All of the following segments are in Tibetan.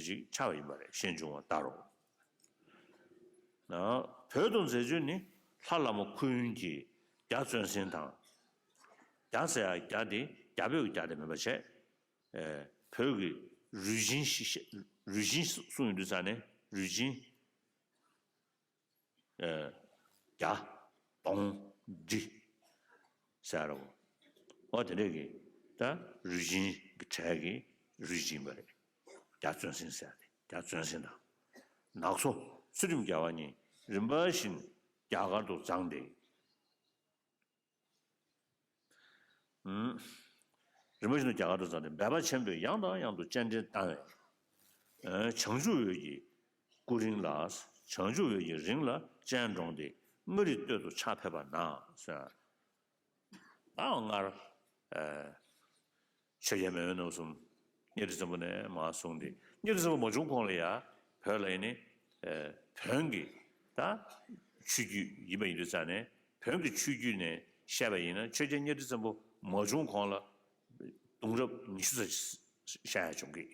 དེ་ཅིག་ཆར་བ་ཡིན་པ་ལས་གཞན་འབྱུང་བ་ལྟར་རོ། བོད་དུ་མཛད་སྤྱོད་ནི་ལྷ་བླ་མ་ཁུ་ཡོན་གྱིས་རྒྱ་བཙོན་ཟིན་དང། རྒྱ་ཟེར་ཡང་རྒྱ་དེ་རྒྱ་བོད་ཀྱི་རྒྱ་དེ་མིན་པར་བྱས། བོད་ཀྱི་རུས་ཆེན་གསུངས་ཡོད་དུས་ས་ནས་རུས་ཆེན། བརྒྱ། སྟོང། ཁྲི། ཟེར་རོ། ཨོ་དེ་འདྲས་ཀྱིས་ད་རུས་སྦྱིན་གྱི་གྲས་ཀྱི་རུས་སྦྱིན་པ་རེད། རྒྱ་བཙོན་སྲིན་ཟེར་ཏེ་རྒྱ་བཙོན་སྲིན་དང། ནག་ཚོ་ཚུལ་ཁྲིམས་རྒྱལ་བ་གཉིས་རིམ་པ་བཞིན་རྒྱ་གར་དུ་བརྫངས་ཏེ། རིན་པོ་ཆེ་རྣམས་རྒྱ་གར་དུ་བཙལ་ཏེ་འབད་པ་ཆེན་པོས་ཡང་དང་ཡང་དུ་སྤྱན་འདྲེན་བཏང་བས། བྱང་ཆུབ་འོད་ཀྱི་སྐུ་རིང་ལ། བྱང་ཆུབ་འོད་ཀྱི་རིང་ལ་སྤྱན་དྲོངས་ཏེ་མངའ་རིས་སྟོད་དུ་ཕྱག་ཕེབས་པ་ན། སྔར། ཆོས་རྒྱལ་མེས་དབོན་རྣམ་གསུམ་གཉེར་བསྟི་བཙན་པོ་ནས་མ་གསུངས་ཏེ་གཉེར་བསྟི་བཙན་པོ་མ་བྱུང་གོང་ལ་ཡང་བོད་ལ་ཡེ་ནས་བོན་གྱི་ད་ཆོས་རྒྱུད་ཡིན་པ་ཡིན་དུས་རྩ་ནས་བོན་གྱི་ཆོས་རྒྱུད་ནས་བཤད་པ་ཡིན་ན་ཆོས་རྒྱལ་གཉེར་བསྟི་བཙན་པོ་མ་བྱུང་གོང་ལ་གདུང་རབས་ཉི་ཤུ་རྩ་བཞི་བཤད་ཡ་བྱུང་གི།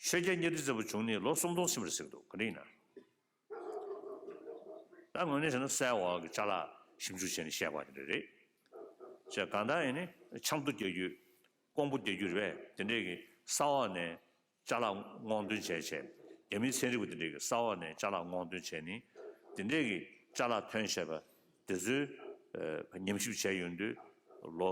ཆོས་རྒྱལ་གཉའ་ཁྲི་རྩེ་པོ་བྱུང་ནི་ལོ་སུམ་སྟོང་ཕྱིན་པར་གཟིགས་འདུག་གང་འདྲ་ཡིན་ན། ད་ངོས་ནས་བཤད་ན་གསལ་བ་གི་ཆ་ལ་ཞིབ་འཇུག་བྱས་ནས་བཤད་པ་དེ་འདྲ་རེད། ཅེས་གང་ལྟར་ཡིན་ནི་ཆབ་མདོ་རྒྱལ་རྒྱུད། ཀོང་པོ་རྒྱལ་རྒྱུད་རེད་པས་དེ་འདྲའི་གི་ས་འོག་ནས་བཅའ་ལག་བསྔོག་འདོན་བྱས་བྱས། རྒྱ་མིའི་ཚན་རིག་པ་དེ་འདྲའི་གི་ས་འོག་ནས་བཅའ་ལག་བསྔོག་འདོན་བྱས་ནི་དེ་འདྲའི་གི་བཅའ་ལག་ཐོན་བྱས་པ་དེ་ཚོའི་ཉམས་ཞིབ་བྱས་ཡོད་དུས་ལོ།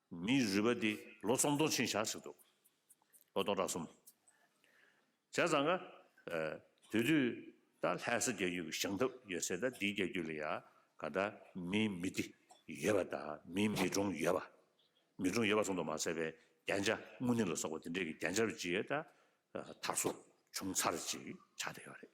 མིའི་རུས་པ་འདི་ལོ་གསུམ་སྟོང་ཕྱིན་བཞག་ཟིག་འདུག། ལོ་སྟོང་ཕྲག་གསུམ། བྱས་ཙང་ཀ། དེ་དུས་ད་ལྷས་ས་རྒྱལ་རྒྱུད་ཀྱི་བྱང་ཐབས་ཡོད་ཚད་ད་འདིའི་རྒྱལ་རྒྱུད་ལ་ཡང་ག་ད་མིའི་མི་འདི་ཡོད་པ་དང་མིའི་མི་གྲོང་ཡོད་པ། མི་གྲོང་ཡོད་པ་གསུང་དུ་མ་ཟད་པའི་རྒྱན་ཆ་དངུལ་ནི་ལ་སོགས་པ་འདི་འདྲས་ཀྱི་རྒྱན་ཆ་རུ་ཅི་ཡོད་ད་ཐར་སོ་བྱུང་ཚར་ཅིག་ཆགས་བསྡད་ཡོད་རེད།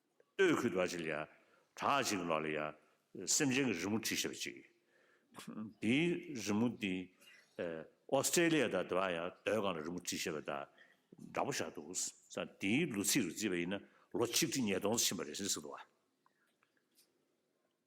སྟོད་ཁུད་བར་གྱི་ལ་ཡ་གྲགས་གཅིག་ལ་ལ་ཡ་སེམས་ཅན་གྱི་རི་མོ་བྲིས་ཤེས་པ་གཅིག་ཡོད། དེའི་རི་མོ་དེ Australia དང་དེ་བ་ཡང་སྡོད་སྒང་ལ་རི་མོ་བྲིས་ཤེས་པ་དང་འདྲ་པོ་ཆགས་འདུག་ས་དེའི་ལོ་ཚིགས་རུ་བརྩིས་པ་ཡིན་ན་ལོ་ཆིག་ཁྲི་ཉིས་སྟོང་ཟིན་པ་རེད་ཟེར་སྲིད་འདུག་བ།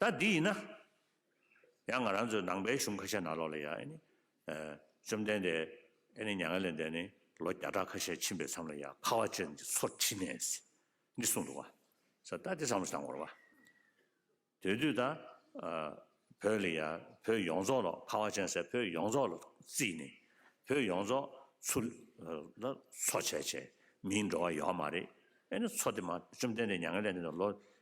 ད་འདི་ཡིན་ན། ཡང་ང་རང་ཚོའི་ནང་པའི་གཞུང་ཁ་ཤས་ནང་ལོགས་ལ་ཡང་ཨེ་ནི། བཅོམ་ལྡན་འདས་ཨེ་ནི་མྱ་ངན་ལས་འདས་ནས་ལོ་བརྒྱ་ཕྲག་ཁ་ཤས་ཕྱིན་པའི་མཚམས་ལ་ཡང་ཁ་བ་ཅན་གྱི་ཚོར་ཁྲིད་ནས། འདི་གསུངས་འདུག་བ། ས་ད་འདི་བསམ་བློ་བཏང་དགོས་རོགས། དེ་དུས་ད། བོད་ལ་ཡང་བོད་ཡོངས་རྫོགས་ལ་ཁ་བ་ཅན་ཟེར་བོད་ཡོངས་རྫོགས་ལ་བརྩིས་ནས། བོད་ཡོངས་རྫོགས་ཚུར་ལ་འཚོ་བྱས་བྱས་མིའི་འགྲོ་བ་ཡོད་མ་རེད། ཨེ་ནི་འཚོ་དེ་མ་བཅོམ་ལྡན་འདས་མྱ་ངན་ལས་འདས་ནས་ལོ་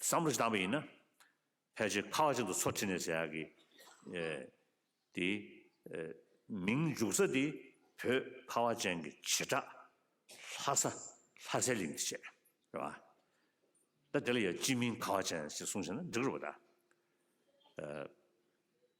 བསམ་བློ་ཞིག་བཏང་བ་ཡིན་ན། ཕལ་ཆེར་ཁག་གཅིག་ཏུ་ཚོ་ཁྲིད་ནས་ཟེར་ཡག་གི། དེ། མིང་འཇུག་ས་དེ་བོད་ཁ་བ་ཅན་གྱི་བྱེ་བྲག་ལྷ་ས་ལྷ་སའི་གླིང་གིས་བྱས། རེད་བ། ད་དེ་ལ་ཡང་སྤྱི་མིང་ཁ་བ་ཅན་ཞེས་གསུངས་ཤེ་ན་འགྲིག་རུ་བ་ད།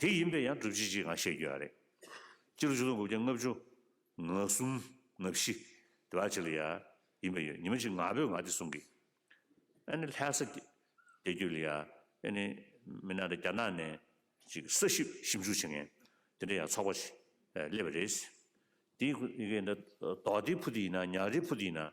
དེ་ཡིན་པས་ཡང་སྒྲུབ་བྱེད་ཅེས་གང་བཤད་རྒྱུ་ཡང་རེད། སྤྱིར་བཅུ་དང་དགུ་བརྒྱ་ལྔ་བཅུ། ང་གསུམ། ང་བཞི། དེ་བ་ཅི་ལ་ཡ། ཡིན་པ་ཡོད་ཉི་མ་གཅིག་ང་བོས་ང་དེ་གསུང་གི། ཨ་ནི་ལྷས་ས། དེ་རྒྱུད་ལ་ཡ། ཨེ་ནི། མི་ནག་དང་རྒྱ་ནག་ནས། ཅིག་གསར་ཞིབ་ཞིབ་འཇུག་བྱེད་མཁན། དེ་འདྲ་ཡང་ཚོགས་པ། སླེབས་པ་རེད། དེའི། མདོ་སྡེའི་བུ་དེ་ཡིན་ན་ཉག་རིའི་བུ་དེ་ཡིན་ན།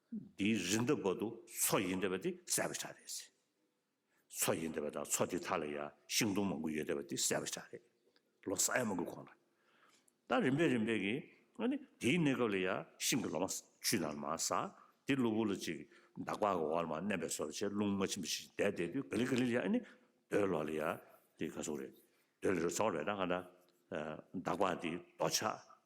འདི་རི་འདབས་བར་དུ་མཚོ་ཡི་འདབས་པ་དེ་གསལ་བར་བྱ་རེད། མཚོ་ཡི་འདབས་པ་དང་མཚོ་དེ་དག་ལ་ཡང་ཤིང་སྡོང་མང་པོ་ཡོད་འདབས་པ་དེ་གསལ་བར་བྱ་རེད། ལོ་སར་ཡ་མ་གུ་གོང་ལ། ད་རིམ་པས་རིམ་པས་ཀྱི། དེའི་གནས་སྐབས་ལ་ཡང་ཤིང་གི་ལོ་མ་ཆུ་ནང་ལ་མ་ཟག། དེ་གློ་བུར་ལ་ཅིག་འདག་པ་གི་འོག་ལ་མ་མནན་པས་སོ་ལ་ཆད་རླུང་མ་ཕྱིན་པ་ཞིག་བསྡད་བསྡད་དུས་ག་ལེར་ག་ལེར་ཡང་ནི། རྡོའི་ལོགས་ལ་ཡང་དེ་ག་སོང་རེད། རྡོའི་ལོ་རེ་ཚ་བ་རེད་ད་ག་འདྲ། འདག་པ་དེ་རྡོ་ཆག་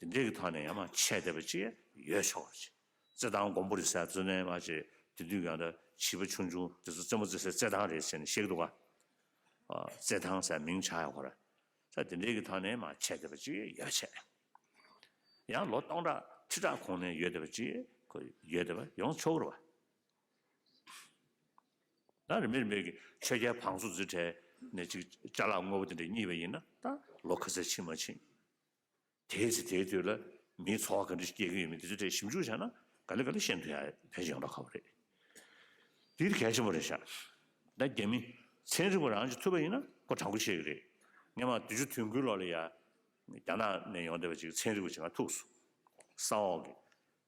དེ་འདྲའི་གི་ཐོག་ནས་ཡང་མ་ཆད་བསྡད་པ་ཅིག་ཡོད་ཆོག་པ་ཅིག་རྩེད་ཐང་མགོན་པོ་རེད་ཟེར་བརྩོན་ལེན་མ་བྱེད་དེ་དུས་ཡང་བྱིས་པ་ཆུང་ཆུང་དེ་ཚོ་རྩེད་མོ་རྩེ་སའི་རྩེད་ཐང་རེད་ཟེར་ནས་གཤེགས་འདུག་ག་རྩེད་ཐང་ཟེར་མིང་ཆགས་ཡོད་གོ་ར་ས་དེ་འདྲའི་གི་ཐོག་ནས་མ་ཆད་བསྡད་པ་ཅིག་ཡོད་ཆེ་ཡང་ལོ་སྟོང་ཕྲག་ཁྲི་ཕྲག་གོང་ནས་ཡོད་བསྡད་པ་ཅིག་གོ་ཡོད་བསྡད་པ་ཡོང་ཆོག་གོ་ར་བ། ད་རིན་པས་རིན་པས་གི་ཆོས་རྒྱལ་བང་སོ་རྫི་གྲས་ནས་ཅིག་བཅའ་ལག་དངོས་པོ་དེ་འདྲ་རྙེད་པ་ཡིན་ན་ད་ལོ་ཁ་ཟས་ཕྱིན་མ་ཕྱིན། དེའི་ཚེ་དེའི་དུས་ལ་མིའི་འཚོ་བ་ག་འདྲ་ཞིག་སྐྱེལ་གྱི་ཡོད་མེད་དེ་ཚོའི་ཐད་ཞིབ་འཇུག་བྱས་ན་ག་ལེ་ག་ལེ་ཤེས་འདོད་ཡག་ཕལ་ཆེར་ཡོང་རག་ག་བ་རེད། འདིར་གལ་ཆེན་པོ་རེད་ཤག་ད་རྒྱ་མི་ཚན་རིག་པ་རང་གཅིག་ཐུབ་པ་ཡིན་ན་ཁོ་དྲང་པོ་བཤད་གི་རེད། ངས་མ་དུས་ཆུ་དུས་འགོའི་ལོ་ལ་ཡ་རྒྱ་ནག་ནས་ཡོང་བསྡད་པ་ཅིག་ཚན་རིག་པ་ཅིག་ང་ཐུགས་སུ་ས་འོག་གི་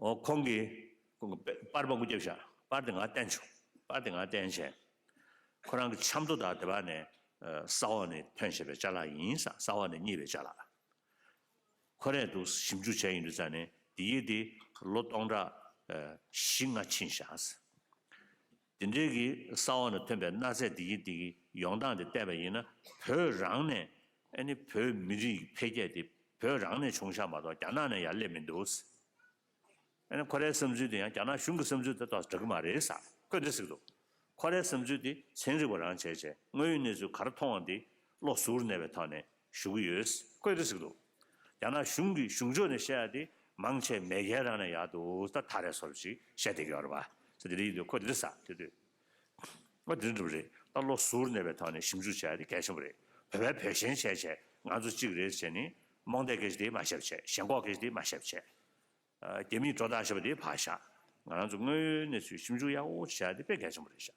ཁོང་གིས། སྤར་པ་སྐུ་རྒྱབ་བཞག་སྤར་དེ་ང་བསྟན་བྱུང། སྤར་དེ་ང་བསྟན་བྱས། ཁོ་རང་གི་ཆབ་མདོ་དག་དེ་བ་ནས་ས་འོག་ནས་ཐོན་བྱས་པའི་བཅའ་ལག་ཡིན། ས་འོག་ནས་རྙེད་པའི་བཅའ་ལག། ཁོ་རས་འདུག་ཞིབ་འཇུག་བྱས་ཡིན་དུས་ཙང་ནས་འདི་ཡིག་འདི་ལོ་སྟོང་ཕྲག་བཞི་ལྔ་ཕྱིན་བཞག། དེ་འབྲེལ་གྱི་ས་འོག་ནས་ཐོན་པའི་གནའ་རྫས་འདི་གིས་འདི་གིས་ཡོང་སྟངས་དེ་བལྟས་པ་ཡིན་ན་བོད་རང་ནས་ཨ་ནི་བོད་མི་རིགས་ཀྱི་འཕེལ་རྒྱས་དེ་བོད་རང་ནས་བྱུང་ཤག་མ་གཏོགས་རྒྱ་ནག་ནས་ཡར་སླེབས་མི་འདུག་ཟེར། ཨ་ནི་ཁོ་རའི་བསམ་ཚུལ་དེ་ཡང་རྒྱ་ནག་གཞུང་གི་བསམ་ཚུལ་དེ་དག་འདྲ་གི་མ་རེད་ཟེར་ཁོས་འདྲི་ཟིག་འདུག་ཁོ་རའི་བསམ་ཚུལ་དེ་ཚན་རིག་པ་རང་བྱས་བྱས་དངོས་ཡོད་གནས་ཚུལ་ག་རེ་མཐོང་བ་འདི་བློ་གཟུར་ནས་པའི་ཐོག་ནས་ཞུ་གི་ཡོད། བཀོད་དེ་ཟིག་འདུག། ཡང་ན་གཞུང་གི་གཞུང་ཕྱོགས་ནས་བཤད་ཡག་དེ་མང་ཆེ་མེས་རྒྱལ་རང་ནས་ཡག་འདུག་ད་ད་རེ་སོར་བཞི་བཤད་བསྡད་ཀྱི་ཡོད་རེད་བ། ས་དེ་རེ་ཡིན་དུས་ཁོ་དེ་རེ་ས་དེ་དུས། ཨོ་དེ་འདྲ་འགྲུབ་རེད་ད་བློ་ཟུར་གནས་པའི་ཐོག་ནས་ཞིབ་འཇུག་བྱས་ཡག་དེ་གལ་ཆེན་པོ་རེད་བོད་པའི་བོད་ཞེན་བྱས་བྱས་ང་ཚོ་གཅིག་རེད་བྱས་ནི་རྨོངས་དད་སྐད་ཆ་དེ་མ་བཤད་བྱས་ཞེན་ཁོག་སྐད་ཆ་དེ་མ་བཤད་བྱས། རྒྱ་མིས་སྒྲོ་བཏགས་བྱས་པ་དེ་བ་བཞག་ང་རང་ཚོ་དངོས་ཡོད་གནས་ཚུལ་ཞིབ་འཇུག་ཡག་པོ་བྱས་ཡག་དེ་དཔེ་གལ་ཆེན་པོ་རེད་བཞག།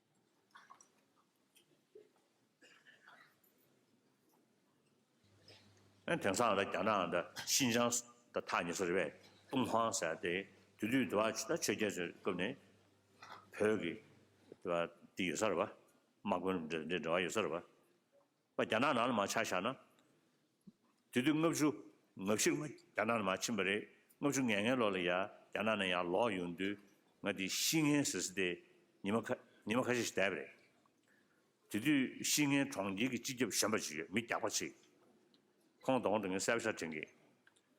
དེང་སང་ལ་རྒྱ་ནག་དང་ཤིན་ཅང་དང་ཐག་ཉེ་སར་རེ་བའི་ཏུང་ཧོང་ཟེར་དེ་དུས་དུས་དུ་བ་ཆོས་རྒྱལ་ཚོའི་སྐབས་ནས་བོད་ཀྱི་དེ་བ་དེ་ཡོད་སར་བ་དམག་དཔོན་འདྲ་འདྲ་བ་ཡོད་སར་བ། པ་རྒྱ་ནག་ནང་ལ་མ་ཆགས་བཞག་ན། དུས་དུས་ལྔ་བཅུ་ང་བཞིར་ང་རྒྱ་ནག་ནང་མ་ཕྱིན་པ་རེད་ལྔ་བཅུ་ང་ལྔའི་ལོ་ལ་ཡ་རྒྱ་ནག་ནང་ཡང་ལོག་ཡོང་དུས་ང་དེ་བཤིག་ངན་ཟེར་ཟེར་ཏེ་ཉི་མ་ཁ་ཉི་མ་ཁ་ཤས་ཤིག་བསྡད་པ་རེད། དེ་དུས་བཤིག་ངན་གྲོང་ཁྱེར་གྱི་སྤྱི་ཁྱབ་གཞན་པ་ཅིག་ཡོད་མི་རྒྱག་པ་ཅིག་ཁོང་དོགས་འདུག་ངས་གསལ་པོ་ཆ་འཕྲིན་གྱི།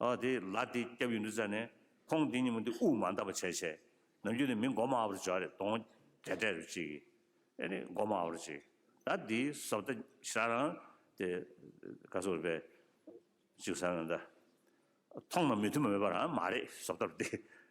ཨ་དེ་ལ་དེ་སྐྱབས་ཡིན་འདུག་ཟེར་ནས་ཁོང་དེ་ཉིན་མོ་དེ་དབུགས་མ་འདག་པ་བྱས་བྱས་ནམ་རྒྱུན་དེ་མི་མགོ་མ་བར་འཇོག་རེད་དོང་བརྒྱ་སྤྲད་རེད་བྱས་གི་ཨེ་རེད་མགོ་མ་བར་བྱས་གི་ད་དེ་ཟོབ་ད་ཤ་རང་དེ་ག་སོ་རེད་པས་ཅིག་ཟེར་ན་ད་ཐོང་ན་མི་མཐུན་པ་མེད་པ་རང་མ་རེད་ཟོབ་ད་རེད།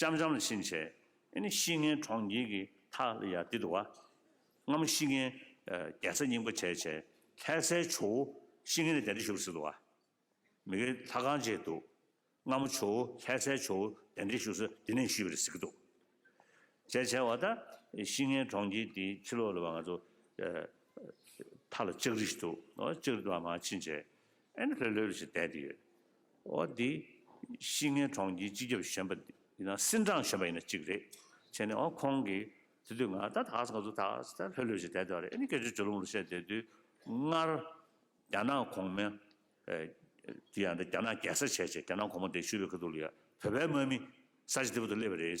ལྕམ་ལྕམ་ལ་ཕྱིན་ཆད་ཨེ་ནི་གཤིས་ངན་གྲོང་ཁྱེར་གྱི་མཐའ་ལ་ཡར་འདེད་འདུག་བ། སྔ་མོ་གཤིས་ངན་རྒྱལ་ཚ་རྙིང་པ་བྱས་བྱས་ལྷས་སའི་ཇོ་བོ་གཤིས་ངན་ལས་བདེན་འདྲེ་ཞུགས་ཟིན་འདུག་བ། མི་ཁའི་ལྷ་ཁང་བཅས་འདུག་སྔ་མོ་ཇོ་བོ་ལྷས་སའི་ཇོ་བོ་བདེན་འདྲེ་ཞུགས་ས་འདི་ནས་ཞུས་པ་རེད་ཟེར་གྱི་འདུག་བྱས་བྱས་བ་ད་གཤིས་ངན་གྲོང་ཁྱེར་འདིའི་ཕྱི་ལོགས་ལ་བ་ང་ཚོ་མཐའ་ལ་ལྕགས་རི་ཞིག་འདུག་ལྕགས་རི་དུ་བ་མ་ཕྱིན་ཆད་ཨེ་ནི་ལྷོད་ལྷོད་ལ་ཞིག་བསྡད་དེ་ཡོད། འོ་དེ་གཤིས་ངའི་གྲོང་ཁྱེར་སྤྱི་ཁྱབ་གཞོན་པ་ཡིན་ན་སིན་ཀྲང་གཞོན་པ་ཡིན་ན་གཅིག་རེད་བྱས་ནས་འོ་ཁོང་གིས་དེ་དུས་ང་ད་ད་གཟིགས་ང་ཚོ་ད་གཟིགས་ལྷོད་ལྷོད་ཞིག་བསྡད་འདུག་ཨ་རེ་ཨ་ནི་སྐད་ཆ་ཇོ་ལུང་ལ་བཤད་དེ་དུས་སྔར་རྒྱ་ནག་གོང་མའི་དེ་ཡང་རྒྱ་ནག་རྒྱལ་ས་བྱས་བྱས་རྒྱ་ནག་གོང་མ་འདས་ཤུལ་བའི་ཁ་ཐུག་ལ་ཡ་བོད་པའི་དམག་མི་ས་ཆ་དེ་པོ་དུ་སླེབས་པ་རེད།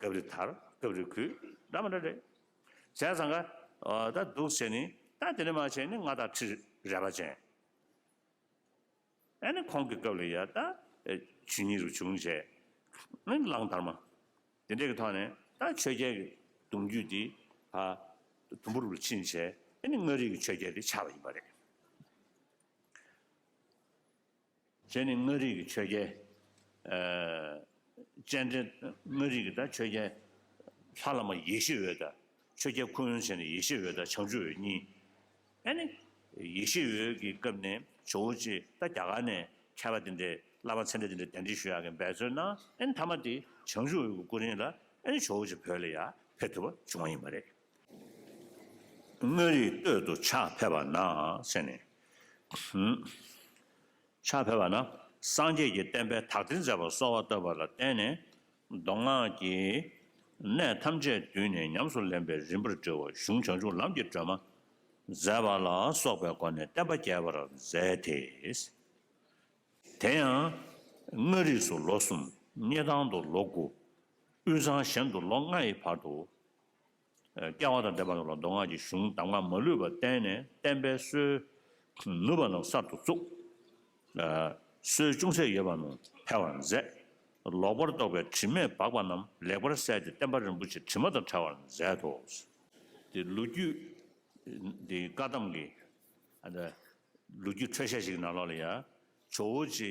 སྐབས་རེ་དར་སྐབས་རེ་གུད་འདྲ་མ་འདྲ་རེད། བྱས་ཙང་ཀ་ད་འདུག་བྱས་ནི་ད་དེ་ནས་མ་བྱས་ནི་ལྔ་དང་ཁྲི་རལ་པ་ཅན། ཨ་ནི་ཁོང་གི་སྐབས་ལ་ཡ་ད་ཆུ་ཉིད་རུ་བྱུང་བྱས་ནི་གླང་དར་མ། དེ་འདྲས་ཀྱི་ཐོག་ནས་ད་ཆོས་རྒྱལ་གྱི་གདུང་རྒྱུད་འདི་ད་དུམ་བུར་རུ་ཕྱིན་བྱས་ནི་དངོས་རིགས་ཀྱི་ཆོས་རྒྱལ་དེ་ཆགས་པ་ཡིན་པ་རེད། དེ་ནི་མངའ་རིས་ཀྱི་ཆོས་རྒྱལ། སྤྱན་འདྲེན། མངའ་རིས་ཀྱི་དང་ཆོས་རྒྱལ། ལྷ་བླ་མ་ཡེ་ཤེས་འོད་དང། ཆོས་རྒྱལ་ཁུ་ཡོན་ཆེན་ནི་ཡེ་ཤེས་འོད་དང་བྱང་ཆུབ་འོད་གཉིས། ཨེ་ནི། ཡེ་ཤེས་འོད་ཀྱི་སྐབས་ནས་ཇོ་བོ་རྗེས་ད་རྒྱ་གར་ནས་མཁས་པ་དེ་འདྲས་བླ་མ་ཚད་འདྲས་དེ་འདྲས་གདན་འདྲེན་ཞུ་ཡག་གི་འབད་རྩོལ་གནང་ཨེ་ནི་མཐའ་མ་དེ་བྱང་ཆུབ་འོད་ཀྱི་སྐུ་རིང་ལ་ཨེ་ནི་ཇོ་བོ་རྗེ་བོད་ལ་ཡར་ཕེབས་ཐུབ་པ་བྱུང་བ་ཡིན་པ་རེད། དངོས་རིག་སྟོད་དུ་ཕྱག་འཕེལ་བ་ན་ཕྱེ་ནས། ཕྱག་འཕེལ་བ་ན་སངས་རྒྱས་ཀྱི་བསྟན་པའི་དག་སྡེ་མཛད་པར་གསོལ་བ་བཏབ་པ་ལ་བརྟེན་ནས་མདོ་སྔགས་ཀྱི་གནས་ཐམས་ཅད་བསྡུས་ནས་ཉམས་སུ་ལེན་པའི་རིམ་པར་འགྲེལ་བ་གཞུང་བྱང་ཆུབ་ལམ་གྱི་སྒྲོན་མ་མཛད་པ་ལ་སོགས་པའི་སྒོ་ནས་བསྟན་པ་རྒྱས་པར་མཛད་དེ། དེ་ཡང་མངའ་རིས་སུ་ལོ་གསུམ། སྙེ་ཐང་དུ་ལོ་དགུ། དབུས་གཙང་གཞན་དུ་ལོ་ལྔ་ཡི་བར་དུ། བསྐལ་བ་དང་འདས་པ་རྣམས་ལ་མདོ་སྔགས་ཀྱི་གཞུང་གདམས་ངག་མ་ལུས་པ་བསྟན་ནས་བསྟན་པའི་སྲོལ། ནུས་པ་རྣམས་གསར་དུ་བཙུགས། སྲོལ་ཅུང་ཟད་ཡོད་པ་རྣམས་འཕེལ་བར་མཛད། ལོག་པར་རྟོག་པའི་དྲི་མས་སྦགས་པ་རྣམས་ལེགས་པར་བསལ་ཏེ་བསྟན་པ་རིན་པོ་ཆེ་དྲི་མ་དང་བྲལ་བར་མཛད་དོ། དེ་ལོ་རྒྱུས། དེ་བཀའ་གདམས་ཀྱི། ལོ་རྒྱུས་འཕྲོས་ཤ་ཞིག་ནང་ལོགས་ལ་ཡ། ཇོ་བོ་རྗེ།